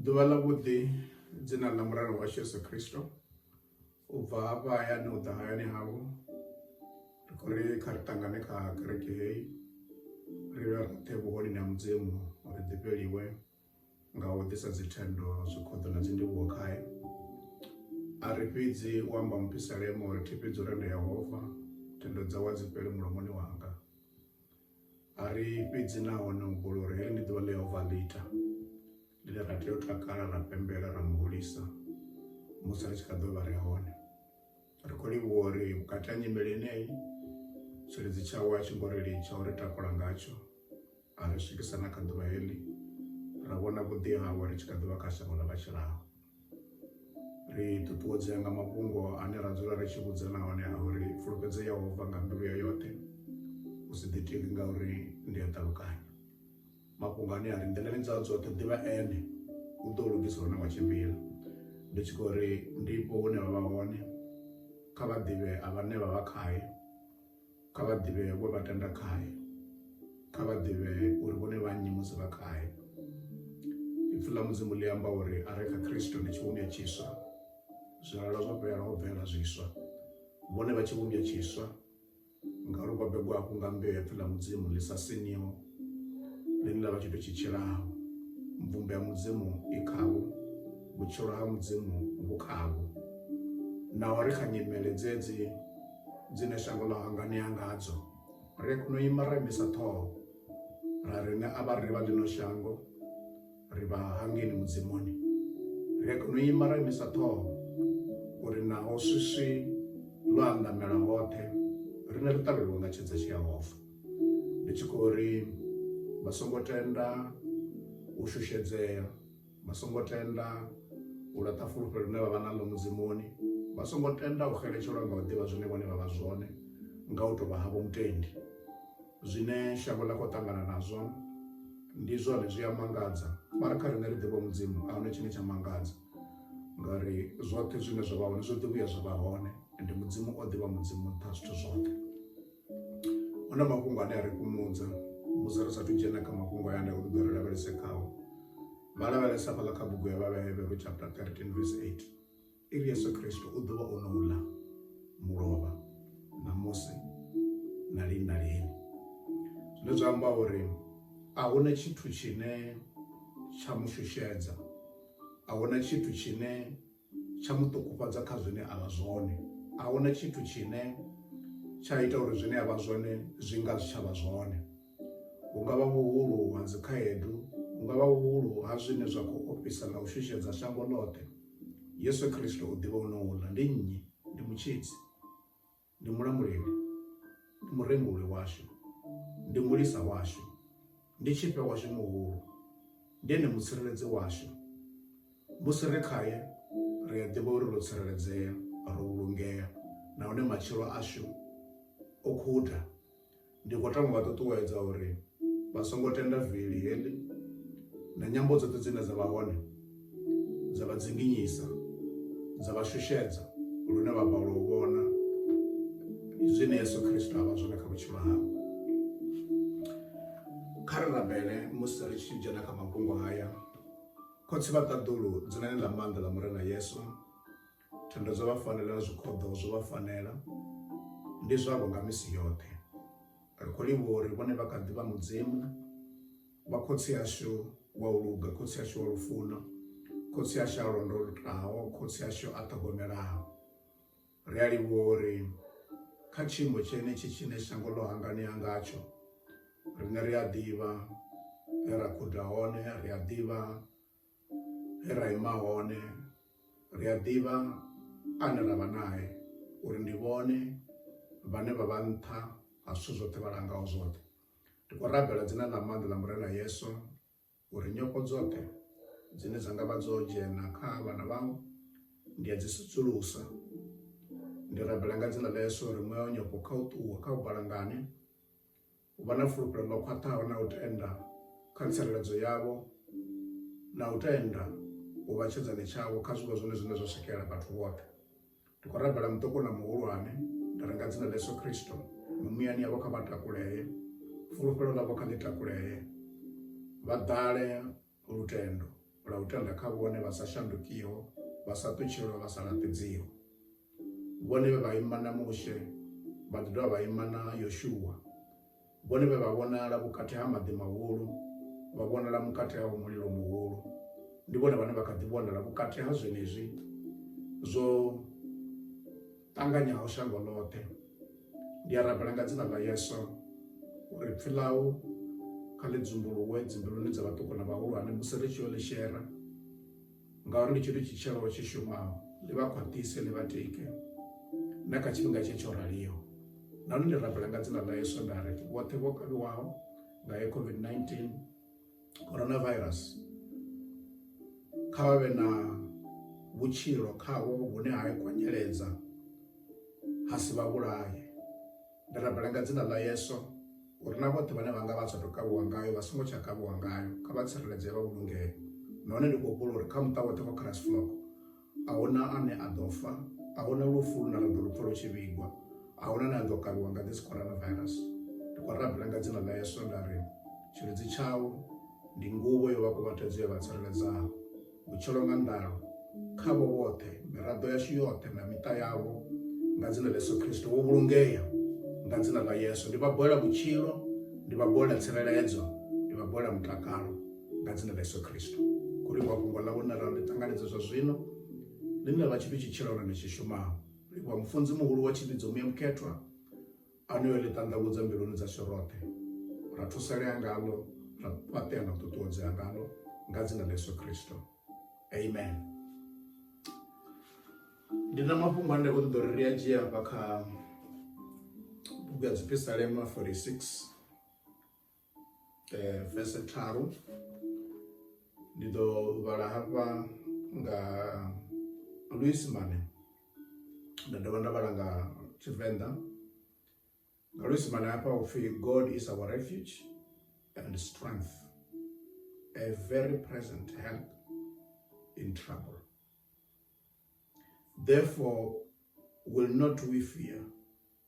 ḓuvha ḽa vhuḓi dzina ḽa muralo wa yesu kristo u bva hafha hayani u ḓa hayani havho ri khou ri kha ri ṱangane kha kereke heyi ri vhe roṱhe vhuhoni na mudzimu uri ḓifheliwe nga u ḓisa dzithendo zwikhoḓo na dzindivhuwo khae a ri fhidzi u amba muphisalemo uri thi fhidzi u renda yehova thendo dzawe a dzi fheli mulomoni wanga A ri fhedzi na wana humbula uri heḽi ndi ḓuvha ḽe Yehova a ḽi ita, ḽine ra tea u takala, ra pembela, ra mu hulisa musi ri tshi kha ḓo vha ri hone. Ri khou livhuwa uri vhukati ha nyimele yeneyi, tshilidzi tshawe a tshi ngo ri litsha u ri takula ngatsho, a ri swikisa na kha ḓuvha heḽi, ra vhona vhuḓi hawe ri tshi kha ḓi vha kha shango ḽa vha tshilaho. ri ṱuṱuwedzea nga mafhungo ane ra dzula ri tshi vhudza na hone a uri fulufhedzo yehova nga mbilu ya yoṱhe u si ḓitiki nga uri ndi a ṱalukanya mafhungo ane a ri nḓilani dza dzoṱhe ḓivha ene u ḓo lugisa hune wa tshimbila ndi tshi khou ri ndipo hune vha vha hone kha vha ḓivhe a vhane vha vha khaye kha vha ḓivhe we vha tenda khae kha vha ḓivhe uri vhone vha nnyi musi vha khae ipfi ḽa mudzimu ḽi amba uri a re kha khristo ndi tshivhumbwa tshiswa zwilala zwo fhela ho bvela zwiswa vhone vha tshivhumbwa tshiswa ngauri vho begwa hafhu nga mbeu ya pfi ḽa mudzimu ḽi sa siniho ḽine ḽa vha tshithu tshi tshilaho mvumbo ya mudzimu i khavho vhutshilo ha mudzimu vhu khavho naho ri kha nyimele dzedzi dzine shango ḽa hanganea ngadzo ri a kona u ima ra imisa ṱhoho ra riṋe a vha ri vha ḽino shango ri vha hangeni mudzimuni ri a kona u ima ra imisa ṱhoho uri naho swiswi ḽo andamela hoṱhe rine ri ṱavhelwa nga tshedza tshi yehova ndi tshi khou ri vha songo tenda u shushedzea vha songo tenda u laṱa fulufhelo ḽine vha vha naḽo mudzimoni vha songo tenda u xeletshelwa nga u ḓivha zwine vhone vha vha zwone nga u tovha havho mutendi zwine shango ḽa khou ṱangana nazwo ndi zwone zwi a mangadza mara kha riṋe ri ḓivha mudzimu a hone tshine tsha mangadza ngauri zwoṱhe zwine zwa vha hone zwo ḓivhuya zwa vha hone ende mudzimu o ḓivha mudzimu nṱha zwithu zwoṱhe huna mafhungo ane a ri kumudza musi ri sathu dzhena kha mafhungo aya nda uri ḓo ri lavhelese khao vha lavhelesa fhaḽa kha bugu ya vhavhevhero chapter 13 verse 8 iri yesu kristo u ḓo vha o no ḽa mulovha na musi na lini na lini zwine zwa amba uri a huna tshithu tshine tsha mu shushedza a huna tshithu tshine tsha mu ṱukufhadza kha zwine a vha zwone a huna tshithu tshine tsha ita uri zwine a vha zwone zwi nga zwi tsha vha zwone hu nga vha vhuhulu ha dzikhaedu hu nga vha vhuhulu ha zwine zwa khou ofhisa na u shushedza shango ḽoṱhe yesu kristo u ḓivha u no uḽa ndi nnyi ndi mutshidzi ndi mulambuleli ndi murembuli washu ndi mulisa washu ndi tshifhe washu muhulu ndi ene mutsireledzi washu musi ri khaye ri a ḓivha uri ro tsireledzea ro vhulungea nahone matshilo ashu o khuda Ndi khou tama u vha ṱuṱuwedza uri vha songo tenda vili heḽi na nyambo dzoṱhe dzine dza vha hone dza vha dzinginyisa dza vha shushedza lune vha balelwa u vhona zwine Yesu Kristo a vha zwone kha vhutshilo havho. Kha ri rabele musi ri tshi dzhena kha mafhungo haya. Khotsi vha ṱaḓulu dzinani ḽa maanḓa ḽa Murena Yesu. thendo dzo vha fanela na zwikhoḓo zwo vha fanela ndi zwavho nga misi yoṱhe ri khou livhuwa uri vhone vha kha ḓi vha mudzimu vha khotsi ashu wa u luga khotsi ashu wa lufuno khotsi ashu a londolutaho khotsi ashu a ṱhogomelaho ri a livhuwa uri kha tshiimo tshenetshi tshine shango ḽo hanganea ngatsho riṋe ri a ḓivha he ra khuda hone ri a ḓivha he ra ima hone ri a ḓivha ane ra vha nae uri ndi vhone vhane vha vha nṱha ha zwithu zwoṱhe vha langaho zwoṱhe ndi khou rabela dzina ḽa maanḓa ḽa murena yesu uri nyofho dzoṱhe dzine dza nga vha dzo dzhena kha vhana vhau ndi a dzi sudzulusa ndi rabela nga dzina ḽa yesu uri muya wa nyofho kha u ṱuwe kha u balangane u vha na fulufhelo ḽo khwaṱhaho na u tenda kha tsireledzo yavho na u tenda u vha tshedzane tshavho kha zwiwo zwone zwine zwa swikela vhathu vhoṱhe ndi khou rabela muṱoko na muhulwane nda renga dzina ḽa yesu khristo mumuyani yavho kha vha takulee fulufhelo ḽavho kha ḽi takulee vha ḓale lutendo lwa u tenda kha vhone vha sa shandukiho vha sa ṱutshelwa vha sa laṱedziho vhone vhe vha ima na mushe vha ḓi dovha vha ima na yoshuwa vhone vhe vha vhonala vhukati ha maḓi mahulu vha vhonala vhukati ha mulilo muhulu ndi vhone vhane vha kha ḓi vhonala vhukati ha zwenezwi zwo ṱanganyaho shango ḽoṱhe ndi a rabela nga dzina ḽa yesu uri pfi ḽau kha ḽi dzumbuluwe dzimbiluni dza vhaṱuku na vhahulwane musi ri tshi yo ḽi shera ngauri ndi tshithu tshitshelo tshi shumaho ḽi vha khwaṱhise ḽi vha tike na kha tshifhinga tshe tsho raliho nahone ndi rabela nga dzina ḽa yesu nda ri vhoṱhe vho kavhiwaho nga ye covid-19 coronavirus kha vha vhe na vhutshilo khavho vhune ha kwanyeledza ha si vha vhulaye ndi rabela nga dzina ḽa yeso uri na vhoṱhe vhane vha nga vha sa tou kavhiwa ngayo vha songo tsha kavhiwa ngayo kha vha tsireledzee vha vhulungee nahone ndi khou humbula uri kha muṱa woṱhe wa christ flock A hu na ane a ḓo fa. A hu na lufu lune ra ḓo lu pfa lu tshi vhigwa. A hu na ane a ḓo kavhiwa nga this coronavirus. Ndi khou rabela nga dzina ḽa Yesu nda ri, Tshilidzi tshau ndi nguvho yo vha kuvhatedzo ya vha tsireledzaho. Vhutshilo nga nḓalo khavho vhoṱhe, miraḓo yashu yoṱhe na miṱa yavho nga dzina ḽa Yesu Kristo. Vho vhulungea nga dzina ḽa Yesu. Ndi vha bolela vhutshilo, ndi vha bolela tsireledzo, ndi vha bolela mutakalo. nga dzina ḽa yesu khristu kuli wa fhungo ḽa vhona ralo ṱanganedza zwa zwino ḽine ḽa tshithu tshi tshilona ni tshi shumaho livhuwa mufunzi muhulu wa tshivhidzo muya mukhethwa anoyo ḽi ṱanḓavhudza mbiluni dza sho roṱhe ra thusalea ngalo ra fhaṱea na ṱuṱuwedzea ngalo nga dzina ḽa yesu khristo amen ndi na mafhungo ane khou ṱoḓa uri ri a dzhia hafha kha bugu ya dzipisalema 46 eh, vese tharu ndi ḓo vhala hafha nga luisimane nda dovha nda vhala nga tshivenḓa nga luisimane hafha upfhi god is our refuge and strength a very present help in trouble therefore will not we fear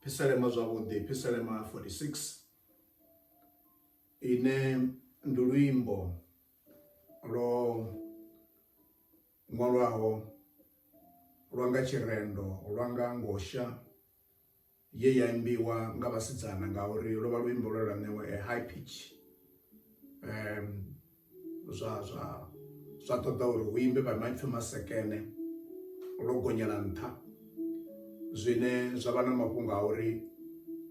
Phiselema zwavhuḓi, phiselema 46 ine ndi luimbo lwo ṅwalwaho lwa nga tshirendo lwa nga ngosha ye ya imbiwa nga vhasidzana ngauri lwo vha luimbo lwe lwa ṋewa a high pitch um zwa zwa zwa ṱoḓa uri hu imbe vha maipfhi masekene lwo gonyela nṱha zwine zwa vha na mafhungo a uri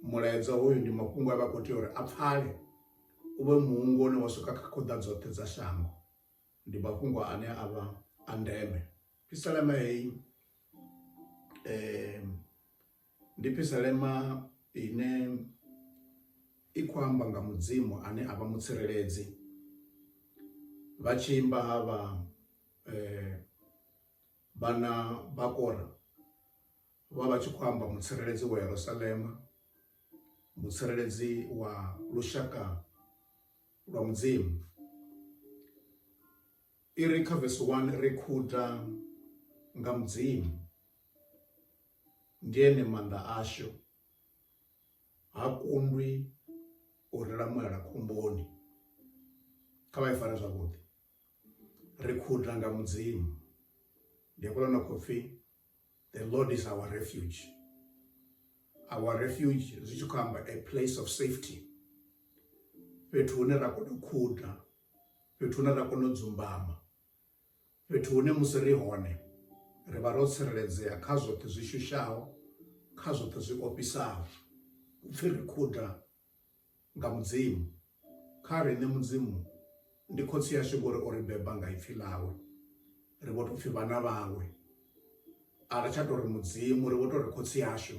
mulaedza hoyu ndi mafhungo a vha khou tea uri a pfale u vhe muhungo une wa swika kha khoḓa dzoṱhe dza shango ndi mafhungo ane a vha a ndeme pisalema heyi um Ndi phisalema ine i khou amba nga Mudzimu ane avha mutsireledzi vha tshi imba havha vhana vha kora vha vha tshi khou amba mutsireledzi wa Yerusalema, mutsireledzi wa lushaka lwa Mudzimu. I ri kha vesi 1 ri khuda nga Mudzimu, ndi ene maanḓa ashu, ha kundwi u ri lamulela khomboni. Kha vha i fare zwavhuḓi. Ri khuda nga Mudzimu. Ndi hafhaḽa na khou pfi the Lord is our refuge. Our refuge zwi tshi khou amba a place of safety. Fhethu hune ra kona u khuda fhethu hune ra kona u dzumbama fhethu hune musi ri hone ri vha ro tsireledzea kha zwoṱhe zwi shushaho kha zwoṱhe zwi ofhisaho upfhi ri khuda nga mudzimu kha riṋe mudzimu ndi khotsi yashu ngori o ri beba nga ipfhi ḽawe ri vho tou pfhi vhana vhawe a ri tsha tou ri mudzimu ri vho tou ri khotsi yashu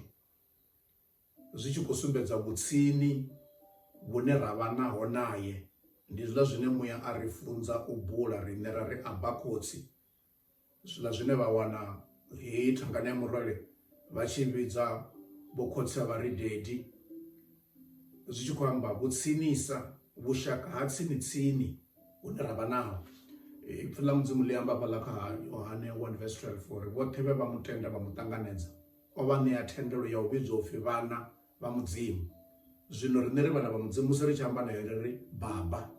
zwi tshi khou sumbedza vhutsini vhune ra vha naho naye. Ndi zwiḽa zwine muya a ri funza u bula riṋe ra ri Abba Khotsi, zwiḽa zwine vha wana heyi thangana ya murole vha tshi vhidza Vho Khotsi a vha ri Daddy, zwi tshi khou amba vhutsinisa, vhushaka ha tsini tsini hune ra vha naho. Ipfi ḽa Mudzimu ḽi amba hafhaḽa kha Yohane 1 vs 12 uri vhoṱhe vhe vha mu tenda vha mu ṱanganedza. o vha ṋea thendelo ya u vhidzwa upfi vhana vha Mudzimu. Zwino riṋe ri vhana vha Mudzimu musi ri tshi amba nae ri ri baba,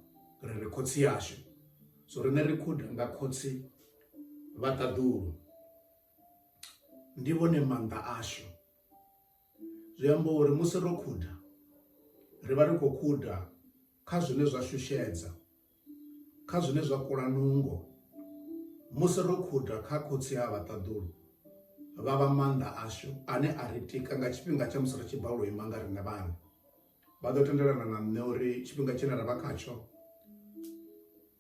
ri ri khotsi yashu. So riṋe ri khuda nga khotsi vha ṱaḓulu. Ndi vhone maanḓa ashu. Zwi amba uri musi ro khuda ri vha ri khou khuda kha zwine zwa shushedza. kha zwine zwa kula nungo musi ro khuda kha khotsi ha vhaṱaḓulu vha vha maanḓa ashu ane a ri tika nga tshifhinga tsha musi ri tshi bva u ima nga riṋe vhana vha ḓo tendelana na nṋe uri tshifhinga tshine ra vha khatsho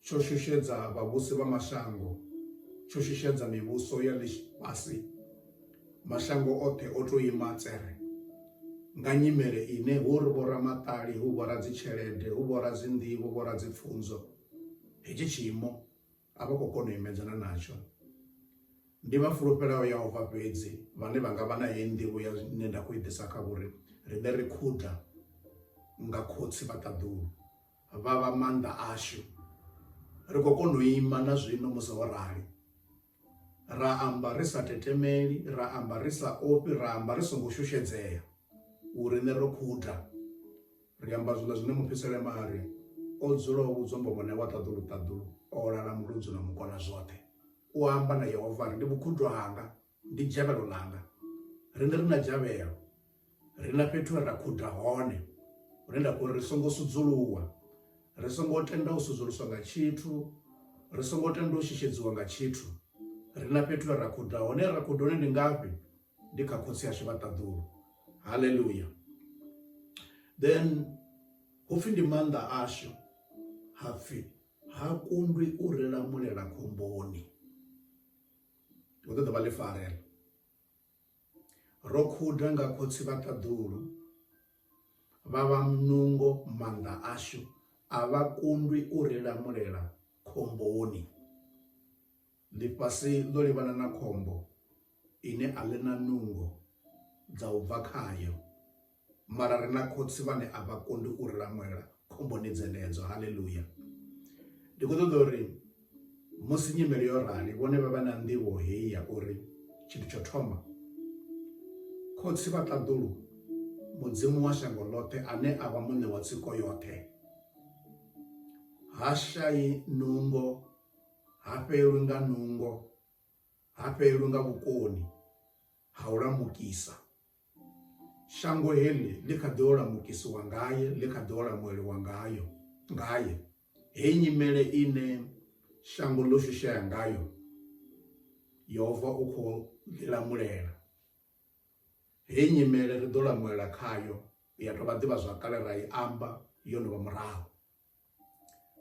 tsho shushedza vhavhusi vha mashango tsho shushedza mivhuso ya ḽifhasi Mashango oṱhe o tou ima tsere nga nyimele ine hu ri vhoramaṱali hu vhora dzitshelede hu vhora dzinḓivho vhora dzipfunzo hetshi tshiimo a vha khou kona u imedzana natsho ndi vha fulufhelaho yehova fhedzi vhane vha nga vha na heyi nḓivho ya ine nda khou i ḓisa kha vhori riṋe ri khuda nga khotsi vha ṱaḓulu vha vha maanḓa ashu ri khou kona u ima na zwino musi ho rali ra amba ri sa tetemeli ra amba ri sa ofhi ra amba ri songo shushedzea u riṋe ro khuda ri amba zwiḽa zwine mufhisele mari o dzula o vhudzwa mbovhone wa ṱaḓulu ṱaḓulu o lala muludzu na mukona zwoṱhe u amba na yehova ri ndi vhukhudwa hanga ndi dzhavhelo ḽanga riṋe ri na dzhavhelo ri na fhethu he ra khuda hone hune nda khou ri songo sudzuluwa ri songo tenda u sudzuluswa nga tshithu ri songo tenda u shishedziwa nga tshithu ri na fhethu he ra khuda hone ra khuda hone ndi ngafhi ndi kha khotsi ashu vha ṱaḓulu haleluya then hupfi ndi maanḓa ashu hapfi ha kundwi u ri lamulela khomboni hu ṱoḓa vha ḽifarela Ro khuda nga khotsi vha ṱaḓulu, vha vha munungo maanḓa ashu, a vha kundwi u ri lamulela khomboni. Ḽifhasi ḽo livhana na khombo ine a ḽi na nungo dza u bva khayo. mara ri na khotsi vhane a vha kondi u ri lamulela khomboni dzenedzo haleluya ndi khou ṱoḓa uri musi nyimele yo rali vhone vha vha na nḓivho heyi ya uri tshithu tsho thoma khotsi vha ṱaḓulu mudzimu wa shango ḽoṱhe ane a vha muṋe wa tsiko yoṱhe ha shayi nungo ha fhelwi nga nungo ha fhelwi nga vhukoni ha u lamukisa shango heḽi ḽi kha ḓi olamukisiwa ngaye ḽi kha ḓi olamueliwa ngayo ngaye heyi nyimele ine shango ḽo shushea ngayo yehova u khou ḽilamulela heyi nyimele ri ḓo lamulela khayo ya tovha ḓivha zwakale ra i amba yo no vha murahu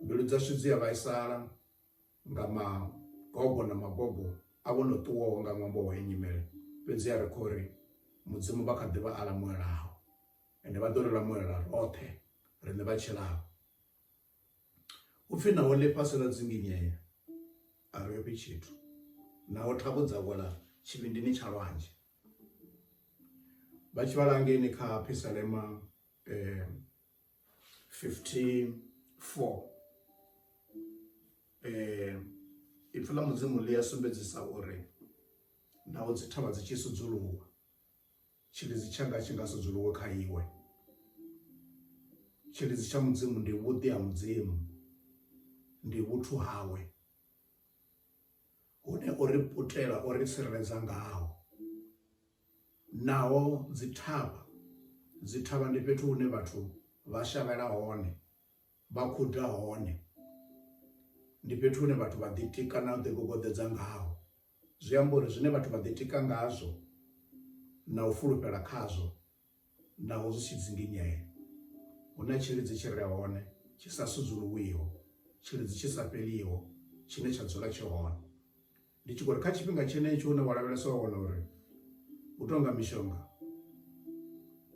mbilu dzashu dzi a vhaisala nga magogo na magogo a vho no ṱuwaho nga ṅwambo wa nyimele fhedzi a ri khou ri mudzimu vha kha ḓi vha a lamuelaho ende vha ḓo ri lamuela roṱhe riṋe vha tshilaho u pfhi naho ḽifhasi ḽa dzinginyea a ri ofhi tshithu naho thavho dza wela tshivhindini tsha lwanzhe vha tshi vhalangeni kha phisalema um eh, 15 4 eh ipfi ḽa mudzimu ḽi a sumbedzisa uri naho dzi thavha dzi tshi sudzuluwa tshilidzi tshanga tshi nga sudzuluwe kha iwe tshilidzi tsha mudzimu ndi vhuḓi ha mudzimu ndi vhuthu hawe hune o ri putela o ri tsireledza ngaho naho dzithavha dzithavha ndi fhethu hune vhathu vha shavhela hone vha khuda hone ndi fhethu hune vhathu vha ḓitika na u ḓigogoḓedza ngaho zwi amba uri zwine vhathu vha ḓitika ngazwo na u fulufhela khazwo Naho zwi tshi dzinginyea, hu na tshilidzi tshi re hone tshi sa sudzuluwiho, tshilidzi tshi sa fheliho tshine tsha dzula tshi hone. Ndi tshi khou ri kha tshifhinga tshenetsho hune wa lavhelesa wa wana uri hu tou nga mishonga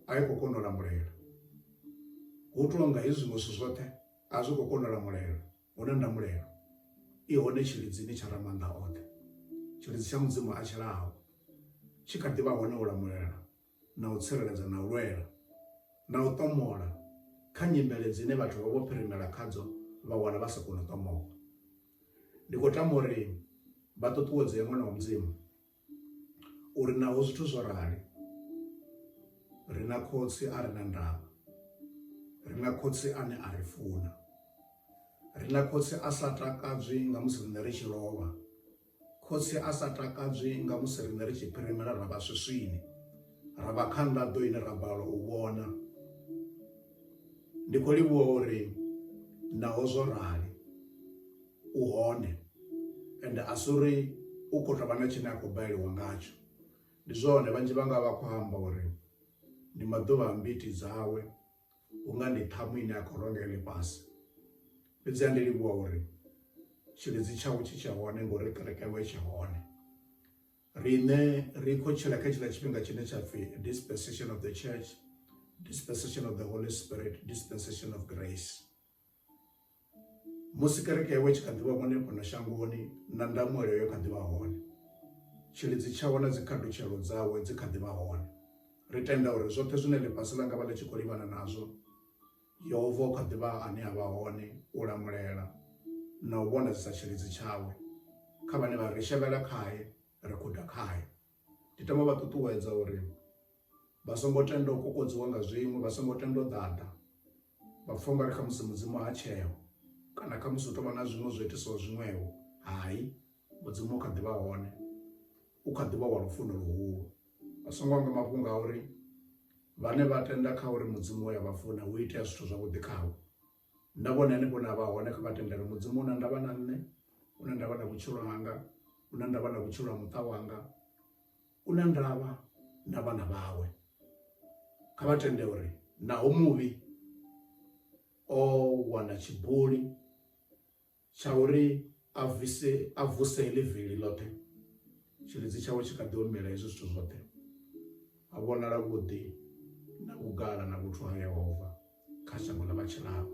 a i khou kona u lamulela, hu tou nga hezwi zwiṅwe zwithu zwoṱhe a zwi khou kona u lamulela, hu na ndamulelo i hone tshilidzini tsha Ramaanḓa oṱhe, tshilidzi tsha Mudzimu a tshilaho tshi kha ḓi vha hone u lamulela na u tsireledza na u lwela na u ṱomola kha nyimele dzine vhathu vha vho phirimela khadzo vha wana vha sa koni u ṱomola. Ndi khou tama uri vha ṱuṱuwedzee ṅwana wa Mudzimu uri naho zwithu zwo rali ri na khotsi a re na ndavha, ri na khotsi ane a ri funa, ri na khotsi a sa takadzwi nga musi riṋe ri tshi lovha Khotsi a sa takadzwi nga musi riṋe ri tshi phirimela ra vha swiswini, ra vha kha nḓaḓo ine ra balelwa u vhona. Ndi khou livhuwa uri naho zwo rali u hone ende a si uri u khou tou vha na tshine a khou baleliwa ngatsho. Ndi zwone vhanzhi vhanga vha khou amba uri ndi maḓuvha a mbiti dzawe. hunga ndi ṱhamu ine a khou ronga ya ḽifhasi fhedzi a ndi livhuwa uri tshilidzi tshawe tshi tsha hone ngori kereke yawe tsha hone riṋe ri khou tshila kha tshiḽa tshifhinga tshine tsha pfhi dispensation of the church dispensation of the holy spirit dispensation of grace musi kereke yawe tshi kha ḓivha vhone fhano shangoni na ndamuelo yo kha ḓivha hone tshilidzi tshawe na dzikhatutshelo dzawe dzi kha ḓivha hone ri tenda uri zwoṱhe zwine ḽifhasi ḽa nga vha ḽi tshi khou livhana nazwo yehova u kha ḓivha ane a vha hone u lamulela na u vhona dzi sa tshilidzi tshawe kha vhane vha ri shevhela khaye ri guda khaye Ndi tama u vha ṱuṱuwedza uri vha songo tenda u kokodziwa nga zwiṅwe, vha songo tenda u ḓaḓa vha pfha ungari khamusi Mudzimu ha tsheo kana khamusi hu tovha na zwiṅwe zwo itisaho zwiṅwevho. Hai Mudzimu u kha ḓivha hone, u kha ḓivha wa lufuno luhulu. Vha songo hangwa mafhungo a uri vhane vha tenda kha uri Mudzimu uya vha funa hu itea zwithu zwavhuḓi khavho. nda vhona henefho na vha hone kha vha tendele mudzimu una ndavha na nṋe una ndavha na vhutshilo hanga una ndavha na vhutshilo ha muṱa wanga una ndavha na vhana vhawe kha vha tende uri naho muvhi o wana tshibuli tsha uri a vise a vuse heḽi vili ḽoṱhe tshilidzi tshawe tshi kha ḓi omela hezwi zwithu zwoṱhe a vhonala vhuḓi na vhugala na vhuthu ha yehova kha shango ḽa vhatshilao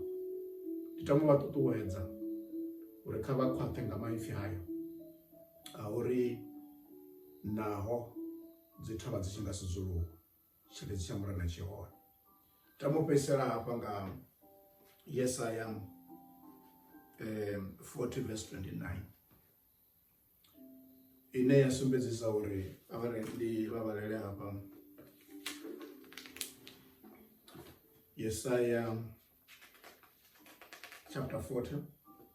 ndi tama vha ṱuṱuwedza uri kha vha khwaṱhe nga maipfi hayo a uri naho dzi thavha dzi tshi nga sudzuluwa tshiledzi tsha murena tshi hone tamo fhedzisela hafha nga yesaya um 40 vs 29 ine ya sumbedzisa uri avare ndi vhavalele hafha yesaya chapter 40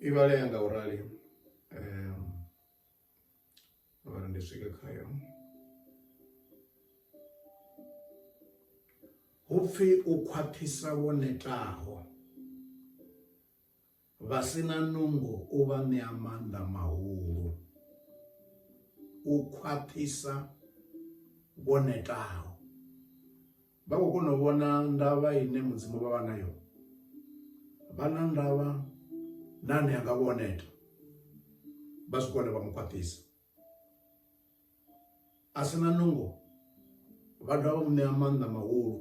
i vhalea nga u rali um, vhara ndi swike khayo hupfi u khwaṱhisa wo netaho Vha si na nungo u vha ṋea maanḓa mahulu, u khwaṱhisa vho netaho. Vha khou kona u vhona ndavha ine Mudzimu vha vha nayo, vha na ndavha na ane a nga vho neta, vha swika hune vha mu khwaṱhisa. a si na nungo vha dovha vha mu ṋea maanḓa mahulu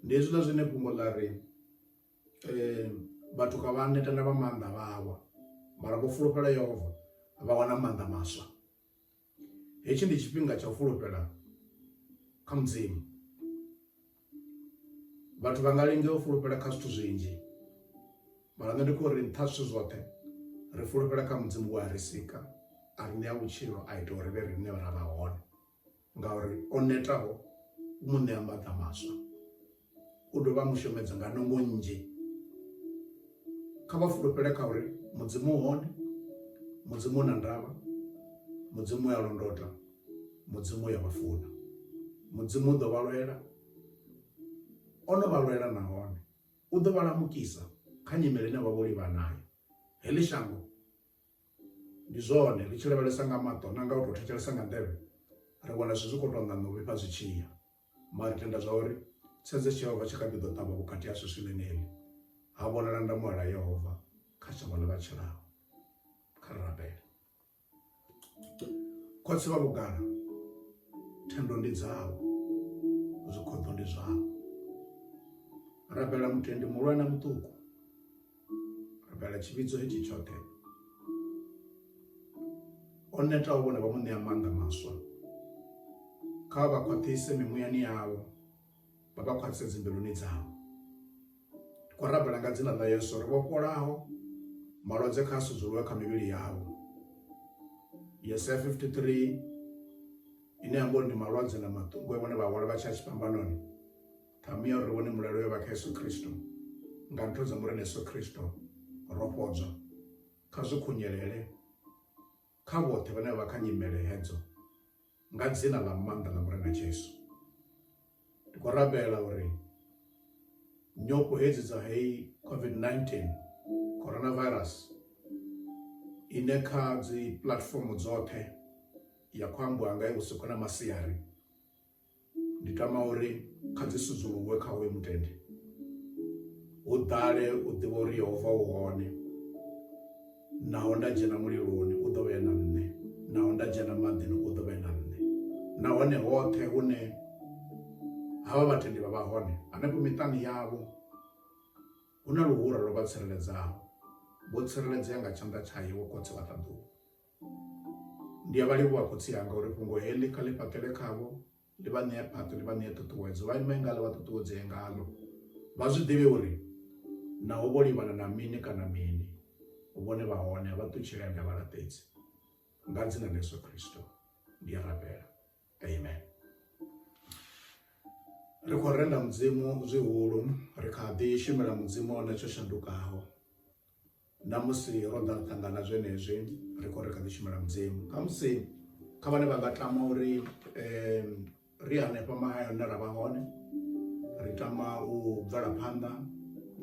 ndi hezwiḽa zwine fhungo ḽa ri um vhathu kha vha neta na vha maanḓa vhawa mara vho fulufhela yehova vha wana maanḓa maswa Hetshi ndi tshifhinga tsha u fulufhela kha Mudzimu. Vhathu vha nga linga u fulufhela kha zwithu zwinzhi mara nṋe ndi khou ri nṱha zwithu zwoṱhe ri fulufhela kha mudzimu wa ri sika a ri ṋea vhutshilo a ita uri vhe riṋe ra vha hone ngauri o netaho u mu ṋea maḓa maswa u dovha a mu shumedza nga nungo nnzhi kha vha fulufhele kha uri mudzimu u hone mudzimu na ndavha mudzimu ya londota mudzimu ya vhafuna mudzimu u ḓo vha lwela o no vha lwela nahone u ḓo vha lamukisa kha nyimele ine vha vho livha nayo heḽi shango ndi zwone ri tshi lavhelesa nga maṱo na nga u tou thetshelesa nga nḓevhe ri wana zwithu zwi khou tou ṋaṋa u vhifha zwi tshiya Mara ri tenda zwa uri tshedza tsha Yehova tshi kha ḓi ḓo ṱavha vhukati hashu swivhini heḽi, ha vhonala ndamuwo ḽa Yehova kha shango ḽa vha tshilaho. Kha ri rabele. Khotsi vha vhugala, thendo ndi dzavho, zwikhoḓo ndi zwavho. Rabela mutendi muhulwane na muṱuku. rabela tshivhidzo hetshi tshoṱhe o netaho vhone vha mu ṋea maanḓa maswa kha vha khwaṱhise mimuyani yavho vha vha khwaṱhise dzimbiluni dzavho ndi khou rabela nga dzina ḽa yesu ri vhofholaho malwadze kha a sudzuluwe kha mivhili yavho yesaya 53 ine ya mbo ndi malwadze na maṱungu e vhone vha hwala vha tshi a tshifhambanoni Ṱhamu ya uri ri vhone mulalo yo vha kha Yesu Kristo. Nga ntho dza Murena Yesu Kristo ro fhodzwa. Kha zwi khunyelele kha vhoṱhe vhane vha vha kha nyimele hedzo nga dzina ḽa maanḓa ḽa Murena Jesu. Ndi khou rabela uri nyofho hedzi dza heyi COVID-19 coronavirus ine kha dzi platform dzoṱhe ya khou ambiwa nga i vhusiku na masiari ndi tama uri kha dzi sudzuluwe kha hoyo mutende hu ḓale u ḓivha uri yehova u hone naho nda dzhena muliloni u ḓo vhe na nṋe naho nda dzhena maḓini u ḓo vhe na nṋe nahone hoṱhe hune havha vhatendi vha vha hone hanefho miṱani yavho hu na luhura lwo vha tsireledzaho vho tsireledzea nga tshanḓa tshayo wo khotsi vha ṱaḓuwa Ndi a vha livhuwa khotsi anga uri fhungo heḽi kha ḽi fhaṱele khavho ḽi vha ṋea phaṱo ḽi vha ṋea ṱhuṱhuwedzo vha ime ngaḽo vha ṱuṱuwedzee ngaḽo vha zwi ḓivhe uri naho vho livhana na mini kana mini vhone vha hone a vha ṱutshele ende a vha laṱedzi nga dzina ḽa yesu khristo ndi a rabela amen ri khou renda mudzimu zwihulu ri kha ḓi shumela mudzimu one tsho shandukaho na musi ro ḓa ri ṱangana zwenezwi ri khou ri kha ḓi shumela mudzimu kha musi kha vhane vha nga tama uri um ri hanefha mahayani hune ra vha hone ri tama u bvela phanḓa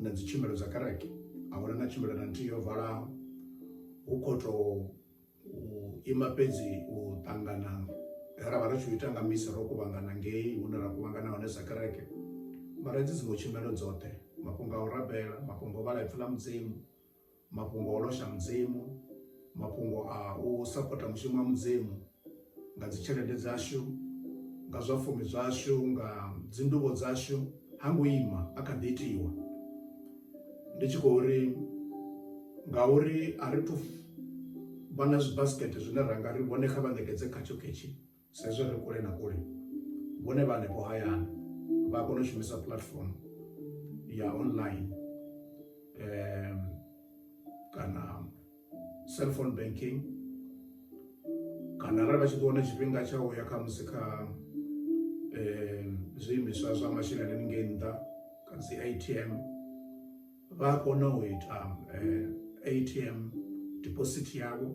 na dzi tshumelo dza kereke a huna na tshumelo na nthihi yo valaho hu khou tou u ima fhedzi u ṱangana he ra vha ri tshi u ita nga misi ro kuvhangana ngei hune ra kuvhangana hone sa kereke mara dzi dziṅwe tshumelo dzoṱhe mafhungo a u rabela mafhungo o vhala ipfi ḽa mudzimu mafhungo o losha mudzimu mafhungo a u sapota mushumo wa mudzimu nga dzi tshelede dzashu nga zwa fumi zwashu nga dzindubo dzashu ha ngo ima a kha ḓi itiwa ndi tshi khou ri ngauri a ri thu vha na zwibasikete zwine ra nga ri vhone kha vha ṋekedze khatsho khetshi sa izwi ri kule na kule vhone vha hanefho hayani vha kona u shumisa platform ya online um kana cellphone banking kana arali vha tshi ḓo wana tshifhinga tsha u ya khamusi kha um zwiimiswa zwa masheleni haningei nṱha kha dzi a t m vha a kona u ita um a t m deposit yavho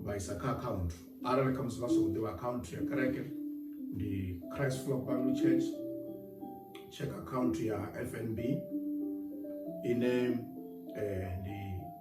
vha isa kha akhaunthu arali khamusi vha songo ḓivha akhaunthu ya kereke ndi christ flock bible church check akhaunthu ya fnb ine um ndi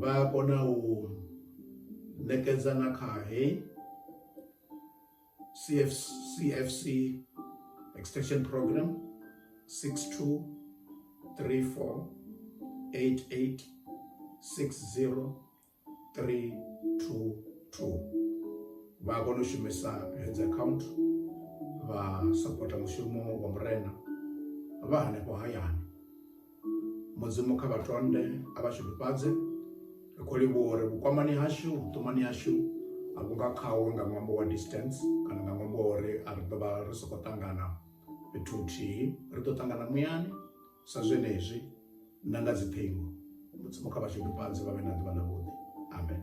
vha a kona u ṋekedza na kha heyi CF, CFC extension program 6234886032 vha a kona u shumisa hedzi account vha sapota mushumo wa murena vha hanefho hayani mudzimu kha vha tonde a vha tshifhifhadze ri khou livhuwa uri vhukwamani hashu vhuṱumani hashu a vhu nga khawo nga ṅwambo wa distance kana nga ṅwambo wa uri a ri ḓo vha ri sokou ṱangana fhethu huthihi ri ḓo ṱangana muyani sa zwenezwi na nga dziṱhingo mudzimu kha vha tshifhifhadze vha vhe na ḓuvha ḽavhuḓi amen